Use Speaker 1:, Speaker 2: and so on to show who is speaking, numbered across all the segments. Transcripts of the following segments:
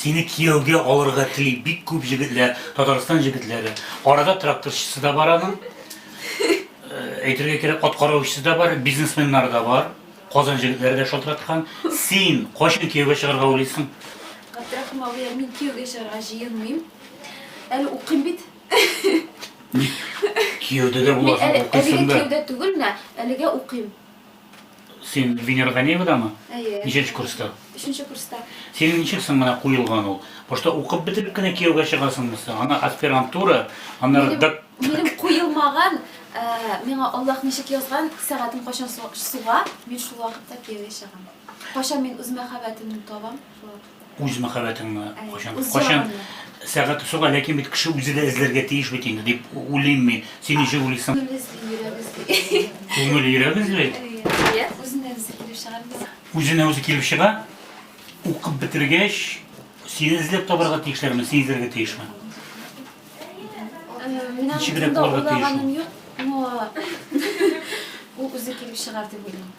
Speaker 1: Сине кияүгә алырга тели бик күп җегетләр, Татарстан җегетләре. Арада тракторчысы да бар аның. Әйтергә кирәк, аткараучысы да бар, бизнесменнар да бар. Казан җегетләре дә шалтыраткан. Син кайчан кияүгә чыгарга уйлыйсың? Габдрахим абый, мин кияүгә чыгарга җыенмыйм. Әле укыйм бит. Кияүдә дә буласың, укыйсың да. Әлегә кияүдә түгел, менә әлегә укыйм. Син Венера Ганеевадамы? Әйе. Ничәнче курста? Өченче курста. Синең ничек соң менә куелган ул? Башта укып бетереп кенә кияүгә чыгасыңмы соң? Ана аспирантура, аннары Минем, док... минем куелмаган, ә, миңа Аллаһ ничек язган, сәгатем кайчан су- суга, мин шул вакытта кияүгә чыгам. Кайчан мин үз мәхәббәтемне табам, шул вакыт. үз мәхәббәтеңне кайчан кайчан сәгате суга ләкин бит кеше үзе дә эзләргә тиеш бит инде дип уйлыйм мин син ничек уйлыйсың күңел йөрәк эзли үзенә үзе килеп чыга укып бетергәч сине эзләп табарга тиешләрме син эзләргә тиешме ничегрәк булырга тиеш ул үзе килеп чыгар дип уйлыйм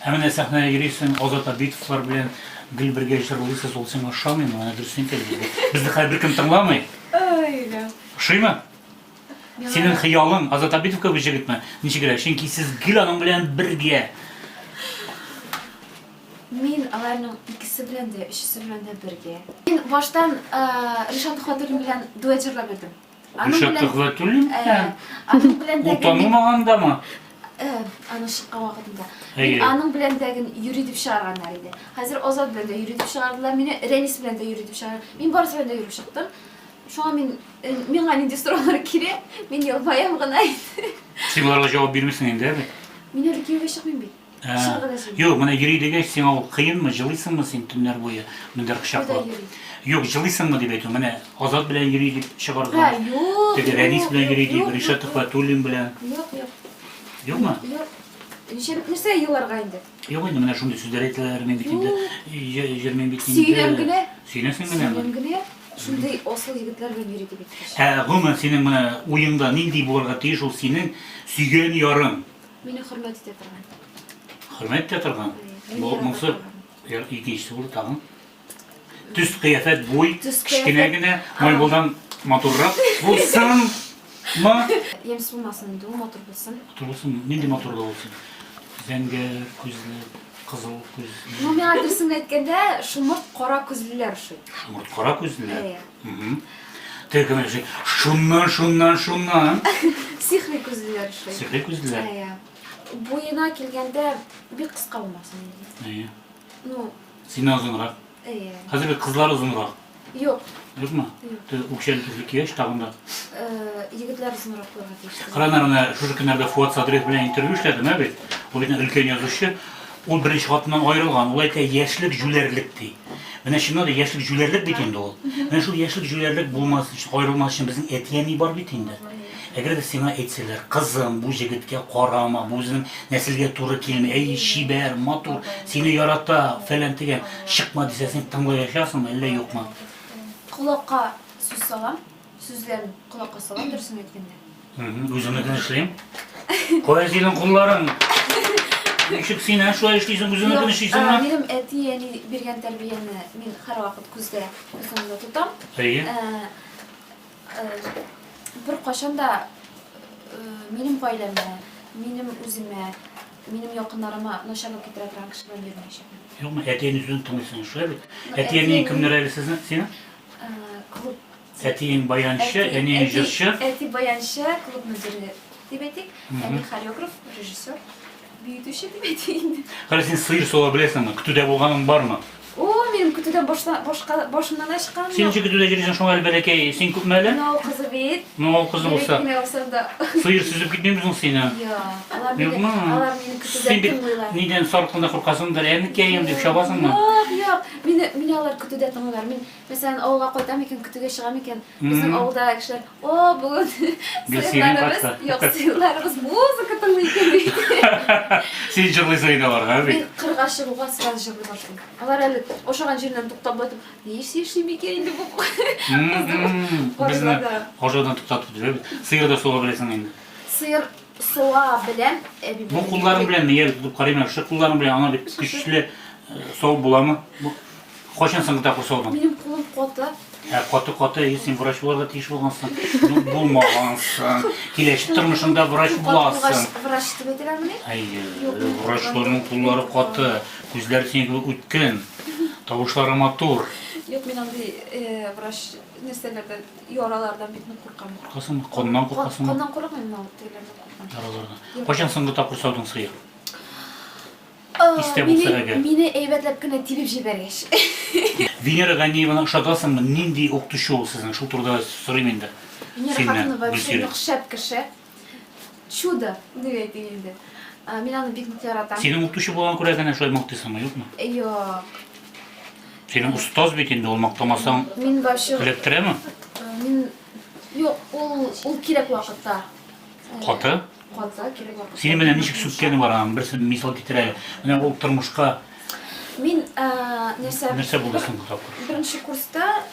Speaker 1: Ә менә сәхнәгә йөрисең, Азат Абитовлар белән гел бергә җырлыйсыз, ул сиңа ошамыймы? Менә дөресен әйтәле безгә. Безне хәзер беркем тыңламый. Әйдә. Ошыймы? Синең хыялың Азат Абитов кебек җегетме? Ничегрәк? Чөнки сез гел аның белән бергә. Мин аларның икесе белән дә, өчесе белән дә бергә. Мин баштан Ришат Мөхәммәтуллин белән дуэт җырлап йөрдем. Ришатов ва Тулин? Аның белән дә... Утану мағанда ма? Аның шыққан вакытында. Мин аның белән дә йөри дип чыгарганнар иде. Хәзер Азат белән дә йөри дип чыгардылар. Мине Рәнис белән дә йөри дип чыгардылар. Мин барысы белән дә йөреп чыктым. Шуңа мин миңа нинди сораулар кирәк? Мин елмаям гына. Син боларга җавап бирмисең инде, әби. Мин әле кияүгә чыкмыйм бит. Ә, Шуны гына сөйлим. Юк, менә йөри дигәч, сиңа ул кыенмы, җылыйсыңмы син төннәр буе мендәр Кайда кочаклап? йөри? Юк, җылыйсыңмы дип әйтү. Менә Азат белән йөри дип Ә, чыгарга. юк. Теге юк, Рәнис белән юк, йөри дип, юк, Ришат юк, Төхвәтуллин белән. Юк, юк. Юкмы? Юк. Ничек нәрсә еларга инде? Юк инде менә шундый сүзләр әйтәләр, мин бит инде йө- йөрмим бит инде. Сөйләм генә. Сөйләсең генәме? Сөйләм генә. Шундый асыл егетләр белән йөри дип әйткәч. Ә гомумән синең менә уеңда нинди булырга тиеш ул синең сөйгән ярың? Мине хөрмәт итә торган. Хөрмәт итә торган. Бу моңсы икенчесе булды тагын. Төс кыяфәт буй, кечкенә генә, майбулдан матуррак булсын. Ма? Ямс булмасын инде, ул матур булсын. Матур булсын, нинди матурлык булсын? Зәңгәр күзле, кызыл күзле. Ну, миңа дөресен әйткәндә, шомырт кара күзлеләр ошый. Шомырт кара күзлеләр? Әйе. Төркем эше. Шуннан, шуннан, шуннан. Сихри күзлеләр эше. Сихри күзлеләр. Әйе. Буена килгәндә бик кыска булмасын. Әйе. Ну, синнән озынрак. Әйе. Хәзер бит кызлар озынрак. Юк. Юкмы? Юк. Үкчән төзлек кигәч тагын да. Э, егетләр озынрак булырга тиеш. Кранарны шушы көннәрдә Фуат Садриев белән интервью эшләдем, ә бит. Ул бит өлкән язучы. Ул беренче хатыннан аерылган, ул әйтә, яшьлек җүләрлек, ди. Менә чыннан да яшьлек җүләрлек бит инде ул. Менә шул яшьлек җүләрлек булмас өчен, аерылмас өчен безнең әти-әни бар бит инде. Әгәр дә сиңа әйтсәләр, кызым, бу җегеткә карама, бу үзенең нәселгә туры килми, әй, чибәр, матур, сине ярата, фәлән-тегән, чыкма дисә, син тыңлаячаксыңмы, әллә юкмы? Колакка сүз салам. Сүзләрен колакка салам дөресен әйткәндә. Үземнекен эшлим. Кая синең кулларың? Ничек син ә шулай эшлисең, үзеңнекен эшлисеңме? Минем әти әни биргән тәрбияне мин һәрвакыт күздә күз уңында тотам. Әйе. Бер кайчан да минем гаиләмә, минем үземә, минем якыннарыма начарлык китерә торган кеше белән йөрмәячәкмен. Юкмы, әти әни сүзен тыңлыйсың, шулай бит? Әти әни кемнәр әле сезнең, синең? клуб Әтиең баянчы, әниең җырчы. Әти баянчы, клуб мөдире дип әйтик. Әни хореограф, режиссер, биютүче дип әйтик инде. Хәле син сыер сула беләсеңме? Көтүдә булганың бармы? О, мин көтүдән башта башка башымнан ашкан. Син ничек көтүдә йөрисең шуңа әле бәләкәй? Син күпме әле? Мынау кызы бит. Мынау кызы булса. Сыер сөзеп китмим соң сине. Юк, алар мине алар мине көтүдә тыңлыйлар. Нидән сарыкны куркасыңдыр? Әнекәем дип чабасыңмы? Юк, юк. Мине, мине алар көтүдә тыңлыйлар. Мин, мәсәлән, авылга кайтам икән, көтүгә чыгам икән, безнең авылда кешеләр, о, бүген сыерларыбыз, юк, сыерларыбыз музыка тыңлый икән диде. Син җырлыйсың инде аларга, әби. Мин кырга чыгуга сразу җырлый башлыйм. Алар әле ошаган җиреннән туктап байтып, ни эш эшли микән инде бу кыз? Безне ошаудан туктатып бетерә бит. Сыер да суга беләсең инде. Сыер Суа белән әби. Бу кулларың белән нигә дип карыйм әле, шул кулларың белән аңа дип көчле сау буламы? Бу кайчан соң тапкыр саудың? Минем кулым каты. Ә каты каты, и син врач булырга тиеш булгансың. Ну, булмагансың. Киләчәк тормышыңда врач буласың. Врач дип әйтәләрмени? Әйе, врачларның куллары каты, күзләр синең кебек үткен, тавышлары матур. Юк, мин андый врач нәрсәләрдән Яралардан бик нык куркам. Куркасың, коннан куркасың. Коннан курыкмыйм, но тегеләрдән куркам. Яралардан. Кайчан соңгы тапкыр саудың сыер? Истә булса әгәр. Мине әйбәтләп кенә тибеп җибәргәч. Венера Ганиеваны ошатасыңмы? Нинди укытучы ул сезнең? Шул турыда сорыйм инде. Венера хатыны вообще нык шәп кеше. Чудо, дип әйтик инде. Ә, Мин аны бик нык яратам. Синең укытучы булган күрә генә шулай мактыйсыңмы, юкмы? Йо. Синең остаз бит инде, ул мактамасаң Мин вообще эләктерәме? э, мин юк, ул ул кирәк вакытта. э, Каты. Каты кирәк вакытта. Синең менә ничек сүккәне бар, аның берсе мисал китерә әле. Менә ул тормышка Мин э, нәрсә? нәрсә булды соңгы тапкыр? Беренче курста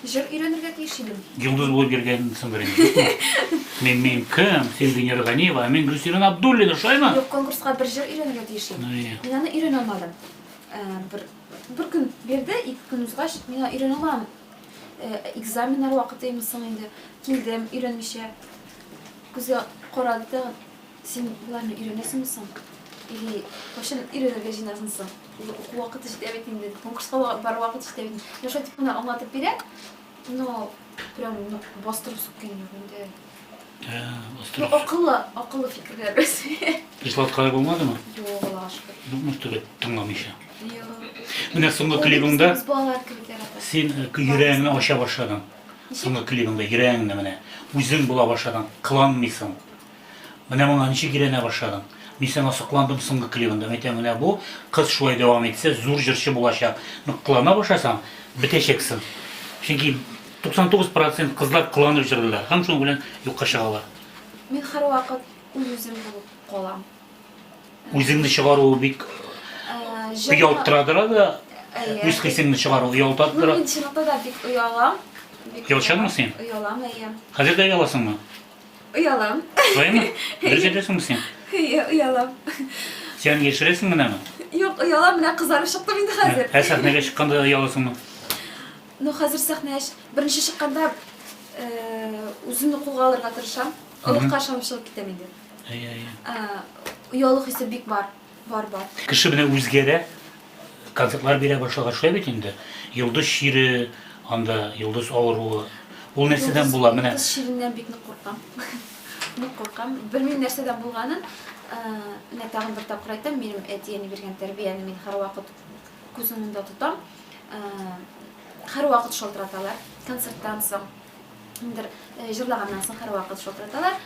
Speaker 1: Җыр өйрәнергә тиеш идем. Йолдыз булып йөргәнсең беренче. Мин мин кем? Син Венера Ганиева, ә мин Гөлсирен Абдуллина, шулаймы? Юк, конкурска бер җыр өйрәнергә тиеш идем. Ну, я. Мин аны өйрәнә алмадым. Э, Бер, бер көн бирде, ике көн узгач, мин аны өйрәнә алмадым. Э, Экзаменнар вакытымы соң инде. Килдем, өйрәнмичә. Күзгә карады тагын. Син боларны өйрәнәсеңме соң? Или кайчан өйрәнергә җыенасың соң? Или уку вакыты җитә бит инде, конкурска бар вакыт җитә бит. Менә шулай дип кенә аңлатып бирә, но прям бастырып сүккән юк инде. Ну, акыллы, акыллы фикерләр үзе. Ислат кая булмадымы? Юк, Аллага шөкер. Юкмы түгел, тыңламыйча. Менә соңгы клибыңда син э, йөрәгеңне ача башладың. Соңгы клибыңда йөрәгеңне менә үзең була башладың, кыланмыйсың. Менә моңа ничек өйрәнә башладың? Мин сиңа сокландым соңгы клибында. Мәйтәм, менә бу кыз шулай дәвам итсә, зур җырчы булачак. Нык кылана башласаң, бетәчәксең. Чөнки 99 процент кызлар кыланып җырлыйлар һәм шуның белән юкка чыгалар. Мин һәрвакыт үз-үзем булып калам. Үзеңне чыгару бик оялттырадыра да, үз хисеңне чыгару оялтаттыра. Ну, мин чынлыкта да бик оялам. Оялчанмы син? Оялам, әйе. Хәзер дә ояласыңмы? Оялам. Шулаймы? Дөрес әйтәсеңме син? Әйе, оялам. Син яшерәсең генәме? Юк, оялам, менә кызарып чыктым инде хәзер. Ә сәхнәгә чыкканда ояласыңмы? Ну, хәзер сәхнәгә беренче чыкканда э, үземне кулга алырга тырышам. Олыгка ышанып чыгып китәм инде. Әйе, әйе. Оялу хисе бик бар. Бар, бар. Кеше менә үзгәрә, концертлар бирә башлаган шулай бит инде. Йолдыз чире, анда йолдыз авыруы. Ул нәрсәдән була менә? Йолдыз чиреннән бик нык куркам. Нык куркам. Белмим нәрсәдән булганын. Менә тагын бер тапкыр әйтәм, минем әти-әни биргән тәрбияне мин һәрвакыт күз уңында тотам. Һәрвакыт шалтыраталар концерттан соң. Ниндер җырлаганнан соң һәрвакыт шалтыраталар.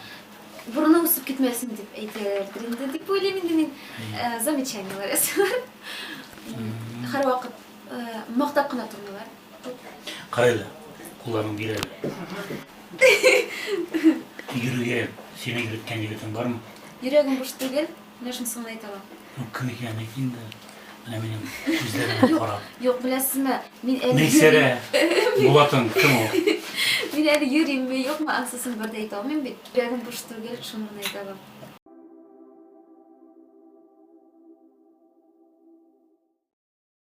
Speaker 1: Борыны үсеп китмәсен дип әйтәләрдер инде дип уйлыйм инде мин. Э, замечаниеләр ясыйлар. Һәрвакыт э, мактап кына тормыйлар. Карайлы, кулларын бирәле. Йөрүгә сине йөрткән егетең бармы? Йөрәгем буш түгел. Менә шунысы гына әйтә алам. Ну, кем икәнен әйт инде. Менә минем күзләремә карап. Юк, беләсезме, мин әле Мәйсәрә Булатың кем ул? Мин әле йөримме, юкмы, ансысын бер дә әйтә алмыйм бит. Йөрәгем буш түгел, шуны гына әйтә алам.